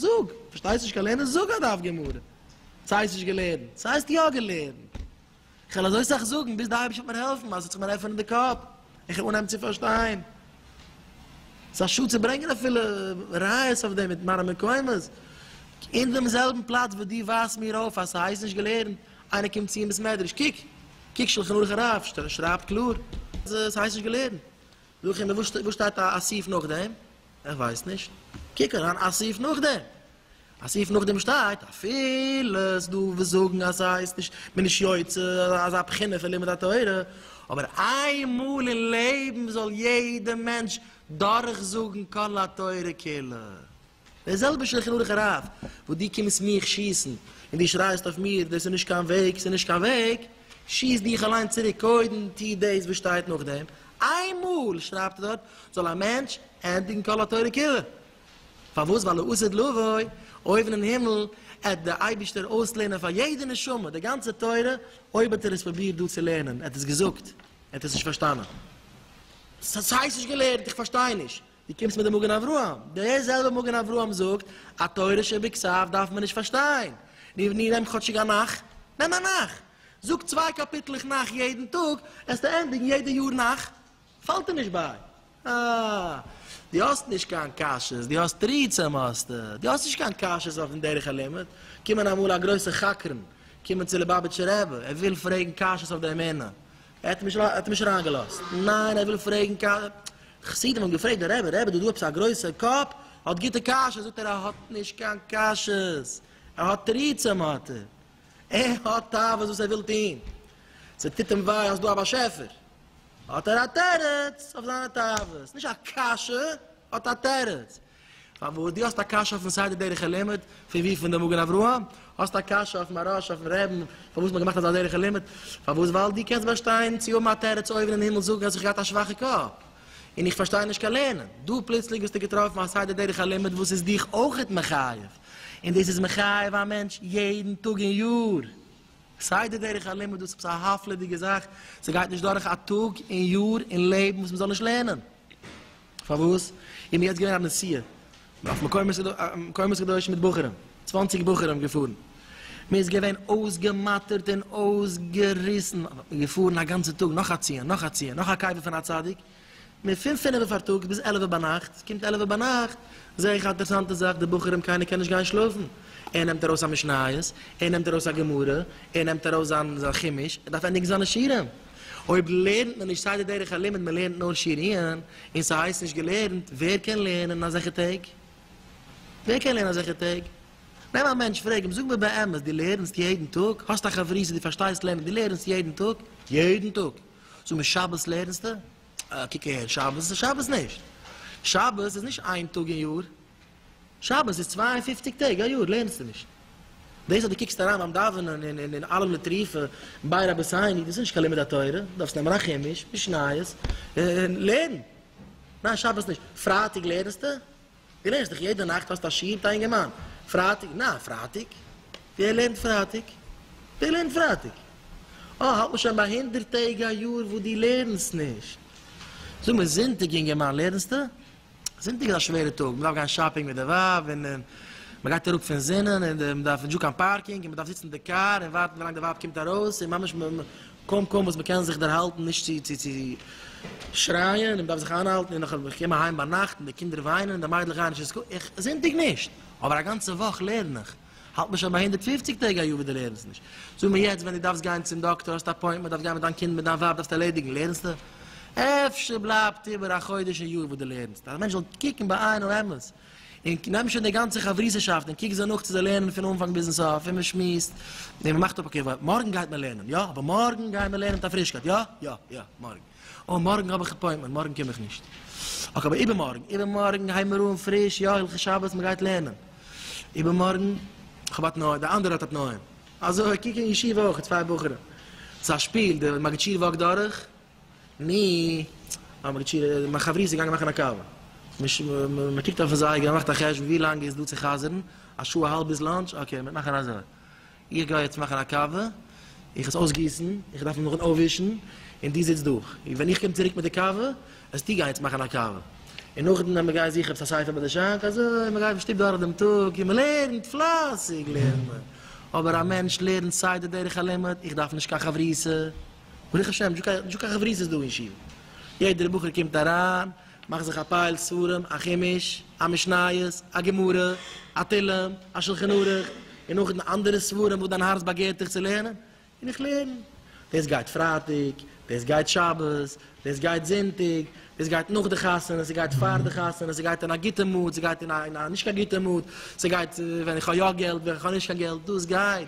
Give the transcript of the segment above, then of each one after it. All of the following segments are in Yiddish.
זאג! פארשטייסט נישט קיין לערנען? זאג א דף גמרא! ס'הייסט נישט געלערנט! ס'הייסט יא געלערנט! איך וועל אזוי סאך זאגן ביז די אייבערשטער וועט מיר העלפן אז עס זאל זיך מיר עפענען די קאפ איך וועל אנהייבן צו פארשטיין. ס'איז א שאד צו ברענגען אפילו ראיות אויף דעם מיט מראה מקומות. אין דעם זעלבן פלאץ וואס דו ווייזט מיר אויף אז ס'הייסט נישט געלערנט, איינער קומט צו אין בית מדרש, קוק, קוק שלחן ערוך הרב שרייבט קלאר אז עס הייסט נישט געלערנט. זאג איך אים וואו שטייט א סעיף נאכדעם? ער ווייסט נישט. קוק אריין א סעיף נאכדעם. א סעיף נאכדעם שטייט אפילו ס'איז דא וואס זאגן אז ס'הייסט נישט מען איז יוצא אזא בחינה פון לימוד התורה, אבער איינמאל אין לעבן זאל יעדע מענטש דורך זאגן כל התורה כולה. דער זעלבע שלחן ערוך הרב וואס דו קומסט מיך שיסן און דו שרייסט אויף מיר דאס איז נישט קיין וועג ס'איז נישט קיין וועג, שיסט דיך אליין צוריק קודם טוה דאס וואס שטייט נאכדעם, איינמאל שרייבט ער דארט זאל א מענטש ענדיגן כל התורה כולה, פארוואס? ווייל לעתיד לבוא, אויבן אין הימל, עט דער אייבישטער אויסלערנען פאר יעדע נשמה די גאנצע תורה, אויב האט ער עס פרובירט דא צו לערנען, עט עס געזאגט, עט עס נישט פארשטאנען. ס'הייסט נישט געלערנט, איך פארשטיי נישט. דו קומסט מיט די מגן אברהם, דער זעלבער מגן אברהם זאגט, א תורה שבכסף דארף מען נישט פארשטיין. נו, נעם כאטשיג א נך, נעם א נך. זאג צוויי קאפיטלעך נך יעדן טאג, העסטו ענדיגן יעדע יאר נך. פאלט דיר נישט ביי. אה, דו האסט נישט קיין קשיות, דו האסט תירוצים האסטו, דו האסט נישט קיין קשיות אויפן דרך הלימוד, קומען אמאל א גרויסע חקרן קומען צו ליבאביטשע רבי, ער וויל פרעגן קשיות אויף די אמונה, ער האט נישט ער האט אים נישט אריין געלאזט, ניין ער וויל פרעגן ק. חסידים האבן געפרעגט די רבי, רבי דא דא עפעס א גרויסע קאפ האט גוטע קשיות, זאגט ער ער האט נישט קיין קשיות, ער האט תירוצים האט ער. ער האט תאוות וואס ער וויל טון, ס'טוט אים וויי אז ס'דא א באשעפער, האט ער א תירוץ אויף זיינע תאוות, נישט א קשיא, האט א תירוץ. פארוואס? דו האסט א קשיא אויפן סדר דרך הלימוד, פון וואו? פון די מגן אברהם? האסט א קשיא אויף מהרש, אויפן רעבן, פארוואס מ'האט געמאכט אזא דרך הלימוד? פארוואס? ווייל דו קענסט באשטיין צו האבן א תירוץ אויבן אין הימל זאגן אז איך געהאט א שוואכע קאפ, און איך פארשטיי נישט קיין לערנען. דא פלוצלינג ביסטו געטראפן א סדר דרך הלימוד וואס איז דיך אויכעט מחייב. און דאס איז מחייב א מענטש יעדן טאג אין יאר, סיי די דרך הלימוד וואס איז עפעס א הפלה'דיגע זאך, ס'גייט נישט דורך א טאג אין יאר אין לעבן וואס מ'זאל נישט לערנען. פארוואס? איז מיר יעצט געווען א נסיעה אויף מקומות קדושים מיט בחורים, צוואנציג בחורים געפארן, מ'איז געווען אויסגעמאטערט און אויסגעריסן, געפארן א גאנצע טאג, נאך א ציון, נאך א ציון, נאך א קבר פון א צדיק, מער פון פינעווע פארטאגס ביז עלעווע ביינאכט, קומט עלעווע ביינאכט זע איך א אינטערעסאנטע זאך די בחורים קיינער קען נישט גיין שלאפן, ער נעמט ארויס א משניות, ער נעמט ארויס א גמרא, ער נעמט ארויס זיין זיין חומש, ער דארף ענדיגן זיינע שיערים, אויב לערנט מען נישט סדר דרך הלימוד מען לערנט נאר שיריען און ס'הייסט נישט געלערנט, ווער קען לערנען אזעלכע טעג? ווער קען לערנען אזעלכע טעג? נעם א מענטש פרעג אים זאג מיר באמת דו לערנסט יעדן טאג? האסט א חברותא דו פארשטייסט לערנען דו לערנסט יעדן טאג? יעדן טאג! זאג מיר שבת לערנסטע? אה קוק אהער שבת איז שבת נישט! שבת איז נישט איין טאג אין יאר! שבת איז צוויי און פופציג טעג א יאר לערנסטע נישט! דאס אז דו קוקסט אריין ביים דאווענען אין אין עלם לטריפה ביי רבי סייני דאס איז נישט קיין לימוד התורה דו דארפסט נעמען א חומש משניות און לערן! ניין שבת נישט! פרייטאג לערנסטע? די לערנסט דיך יעדע נאכט? האסט א שיעור מיט א אינגערמאן פרייטאג? נא, פרייטאג? ווער לערנט פרייטאג? ווער לערנט פרייטאג? אה, האלט מען שוין ביי הונדערט טעג א יאר וואס דו לערנסט נישט. זאג מיר, זונטאג אינגערמאן לערנסטו? זונטאג איז א שווערע טאג, מען דארף גיין שאפינג מיט די ווייב, און און מען גייט אראפ פון זינען, און מען דארף נישטא קיין פארקינג, און מען דארף זיצן אין די קאר און ווארטן ווילאנג די ווייב קומט ארויס, און ממש קוים קוים וואס מען קען זיך דערהאלטן נישט צו צו צו שרייען און מען דארף זיך איינהאלטן און נאך איך קום אהיים ביינאכט און די קינדער וויינען און די מיידלעך גייען נישט אין סקול, איך זונטאג נישט, אבער א גאנצע וואך לערן איך, האלט מיר שוין ביי הונדערט פֿופֿציק טעג א יאר ווי דו לערנסט נישט, זאג מיר יעצט ווען דו דארפסט גיין צום דאקטער, האסט א אפוינטמענט, דארפסט גיין מיט דיין קינד מיט דיין ווייב דארפסט ערלעדיגן, לערנסטו? אפשר בלייבט איבער א חודש און יאר וואס דו לערנסט, אז א מענטש זאל קוקן בעינו אמת. און כ'נעם שוין די גאנצע חברות'שאפט און קוק זיי נאך צו זיי לערנען פון אנפאנג ביזן סוף, און מ'שמועסט, און מ'מאכט אפ, אקעי, מארגן גייט מען לערנען, יא, אבער מארגן גייען מיר לערנען מיט א פרישקייט, יא, יא, יא, מארגן, אוי, מארגן האב איך עפוינטמענט, מארגן קום איך נישט, אקעי, אבער איבערמארגן, איבערמארגן הייבן מיר אן פריש, יא, הילכי שבת, מ'גייט לערנען, איבערמארגן, כ'האב א תנאי, דער אנדערער האט א תנאי, אזוי, קוק אין ישיבה אויך, צוויי בחורים, ס'איז א שפיל, די מגיד שיעור וואקט דורך. מ האב מיר געטשעט און מיין חבריא איז געגאנגען מאכן א קאווע. מען קוקט אויפן זייגער, מען מאכט א חשבון ווי לאנג איז דא צו חזר'ן, א שעה אהאלב ביז לאנטש, אקעי מיר מאכן אזוי. איך גיי יעצט מאכן א קאווע, איך עס אויסגיסן, איך דארף נאכדעם אויפווישן, און דו זיצט דא. און ווען איך קום צוריק מיט די קאווע, וועסטו גיין יעצט מאכן א קאווע. און נאכדעם ווען מיר גייען זוכן עפעס א ספר ביי די שאנק, אזוי מען גייט אין שטוב דורך דעם טאג, און מען לערנט, פלייסיג לערנט מען. אבער א מענטש לערנט סדר דרך הלימוד, איך דארף נישט קיין חברותא. ברוך השם, זשע קיין חברות איז דא אין שול. יעדער בחור קומט אריין, מאכט זיך א פייל ספרים, א חומש, א משניות, א גמרא, א תהלים, א שלחן ערוך, און נאך דעם אנדערע ספרים וואס דיין הארץ באגערט דיך צו לערנען, און איך לערן. דאס גייט פרייטאג, דאס גייט שבת, דאס גייט זונטאג, דאס גייט נאך די חתונה, ס'גייט פאר די חתונה, ס'גייט אין א גוטע מוד, ס'גייט אין א נישט קיין גוטע מוד, ס'גייט ווען איך האב יא געלט, ווען איך האב נישט קיין געלט, דאס גייט.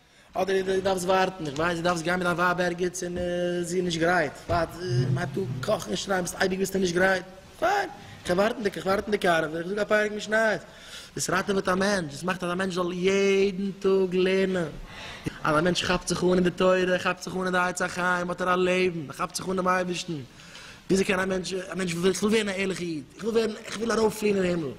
אדער דו דארפסט ווארטן, איך ווייס, דו דארפסט גיין מיט דיין ווייב ערגעץ און זי איז נישט גרייט, ווארט, מען הייבט אן קאכן און שרייען, ביסט אייביג ביסטו נישט גרייט, פיין, איך וועל ווארטן, איך ווארט אין די קאר, איך זאג א פרק משניות, דאס ראטעוועט א מענטש, דאס מאכט אז א מענטש זאל יעדן טאג לערנען, אז א מענטש כאפט זיך אן אין די תורה, ער כאפט זיך אן אין די עצי חיים, האט ער א לעבן, ער כאפט זיך אן דעם אייבערשטן, וויאזוי קען א מענטש, א מענטש וויל, איך וויל ווערן א ערליכע איד, איך וויל ווערן, איך וויל ארויפפליען אין הימל,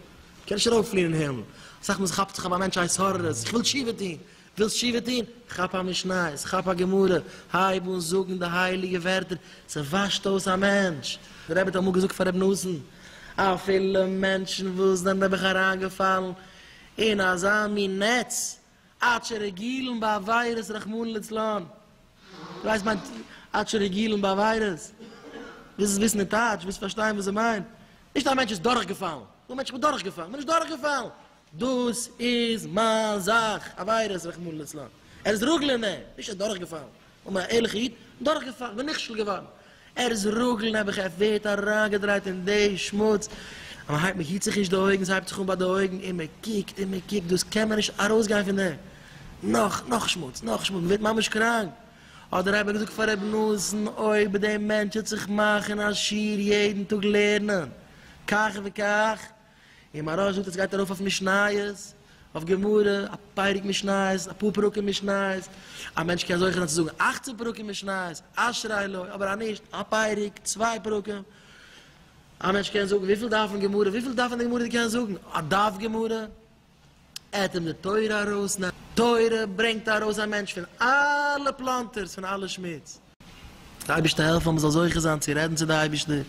קען נישט ארויפפליען אין הימל, אסאך מאל כאפט זיך אויף א מענטש א התעוררות, איך וויל תשובה טון, ווילסט תשובה טון? כאפ א משניות, כאפ א גמרא, הייב אן זאגן די הייליגע ווערטער, ס'וואשט אויס א מענטש. דער רבי האט אמאל געזאגט פאר רבי נתן, אפילו מענטשן וואס זענען נעבעך אריינגעפאלן אין אזא מין נעץ, עד שרגילים בעבירות רחמנא לצלן, דו ווייסט מיינט עד שרגילים בעבירות? וואס איז וויסן אין טייטש? וואס איז פארשטיין וואס זיי מיינט? נישט א מענטש איז דורכגעפאלן, דו מענטש איך בין דורכגעפאלן, כ'בין נישט דורכגעפאלן, דאס איז מיין זאך, עבירות רחמנא לצלן, ער איז רגלא נ, נישט ער איז דורכגעפאלן. און מיין ערליכע איד דורכגעפאלן און נכשל געווארן, ער'ז רגל נעבעך, ער ווערט אריינגעדרייט אין די שמוץ, אז מ'הייבט מ'היט זיך נישט די אויגן, ס'הייבט זיך אן ביי די אויגן, און מ'קוקט און מ'קוקט, דאס קען מען נישט ארויסגיין פון דעם, נאך, נאך שמוץ, נאך שמוץ, מ'ווערט ממש קראנק, האט דער רבי געזאגט פאר רבי נתן, אויב די מענטש וועט זיך מאכן א שיעור יעדן טאג לערנען כך וכך, און מהרא זאגט אז סגייט ארויף אויף משניות, אויף גמרא, א פרק משניות, אפאר פרקים משניות, א מענטש קען זוכה זיין צו זאגן אכצען פרקים משניות, אשרי לו, אבער אז נישט, א פרק, צוויי פרקים, א מענטש קען זאגן, וויפיל דארף מען גמרא, וויפיל דארף מען די גמרא די קענסט זאגן, א דף גמרא. אטעם די תורה ארויס, נאר תורה ברענגט ארויס א מענטש פון אלע פלאנטערס, פון אלע שמוץ. דער אייבערשטער העלפן אז מען זאל זוכה זיין צו רעדן צו די אייבערשטער,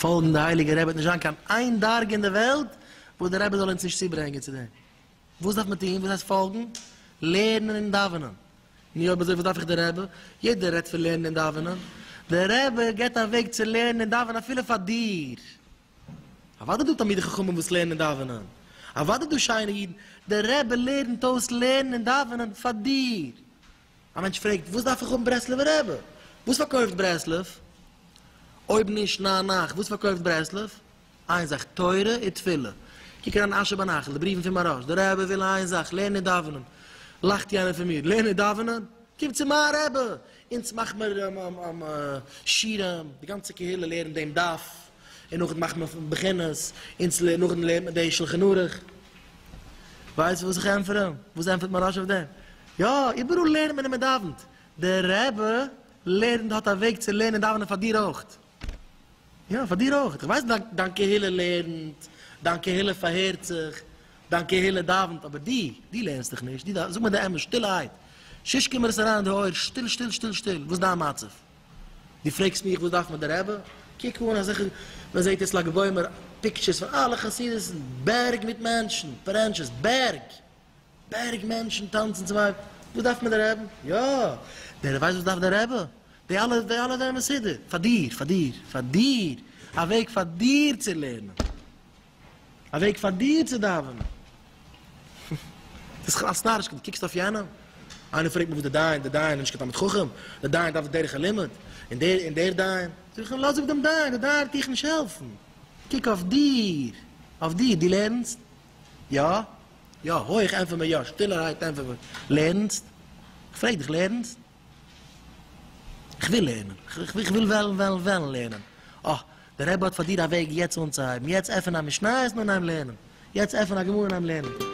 פאלגן די הייליגע רבי, עס וועט נישט זיין קיין איין דרגה אין די וועלט וואס דער רבי זאל אונז נישט צוברענגען צו דעם. וואס דארף מען טון? וואס הייסט פאלגן? לערנען און דאווענען. נו אויב אזוי וואס דארף איך דער רבי? יעדער רעדט פון לערנען און דאווענען, דער רבי גיבט א וועג צו לערנען און דאווענען אפילו פאר דיר. אוואדע דא תלמידי חכמים וואס לערנען און דאווענען, אוואדע דא שיינע אידן, דער רבי לערנט אויס לערנען און דאווענען פאר דיר. א מענטש פרעגט, וואס דארף איך האבן ברסלב'ע רבי? וואס פארקויפט ברסלב? אויב נישט ניין נייך, וואס פארקויפט ברסלב? איין זאך, תורה און תפילה. קוק אריין אין אשר בנחל, די בריוון פון מהרש, דער רבי וויל איין זאך, לערנען און דאווענען. לאכט יענער פון מיר, לערנען און דאווענען? קום צו מיין רבי! אונז מאכמער שירעם, די גאנצע קהילה לערנט דעם דף. און נאכדעם מאכט מען בחינות, און צו לערנען נאכדעם לערנט מען די שלחן ערוך. ווייסט וואס איך ענטפער אים? וואס ענטפערט מהרש א אויף דעם? יא, איבעראל לערנט מען און מען דאווענט. דער רבי לערנט האט א וועג צו לערנען און דאווענען פאר דיר אויך. יא, פאר דיר אויך. איך ווייס דיין קהילה לערנט, דיין קהילה פארהערט זיך, דיין קהילה דאווענט, אבער דו, דו לערנסט דיך נישט, דו דאווענסט. זאג מיר די אמת שטילערהייט, שש קומער עס אריין אין די אויער, שטיל שטיל שטיל שטיל, וואס איז דיין מצב? דו פרעגסט מיך וואס דארף מיר די רבי? קוק אן אזעלכע, מען זעט יעצט לג בעומר פיקטשערס פון אלע חסידות'ן, בערג מיט מענטשן, פרענטשעס, בערג! בערג מענטשן טאנצן צום אייבערשטן, וואס דארף מיר די רבי? יא! דער ווייסט וואס דארף די רבי? די אלע די אלע זענען מסודר פאר דיר, פאר דיר, פאר דיר! א וועג פאר דיר צו לערנען! א וועג פאר דיר צו דאווענען? דאס איז כלל סטארישקייט, דו קוקסט אויף יענעם? איינער פרעגט מיר וואס דער דיין, דער דיין איז נישט קיין תלמיד חכם, דער דיין דארף דרך הלימוד, און דער און דער דיין, זאג איך אים לאז אפ דעם דיין, דער דיין וועט דיך נישט העלפן, קוק אויף דיר, אויף דיר, דו לערנסט? יא? יא, הויך ענטפער מיר יא, שטילערהייט ענטפער מיר, לערנסט? איך פרעג דיך, לערנסט? כ'וויל לערנען. כ'וויל וועלן וועלן וועלן לערנען. אה, דער רבי האט פאר דיר א וועג יעצט אנצוהייבן. יעצט עפן א משניות און אנהייבן לערנען. יעצט עפן א גמרא און אנהייבן לערנען.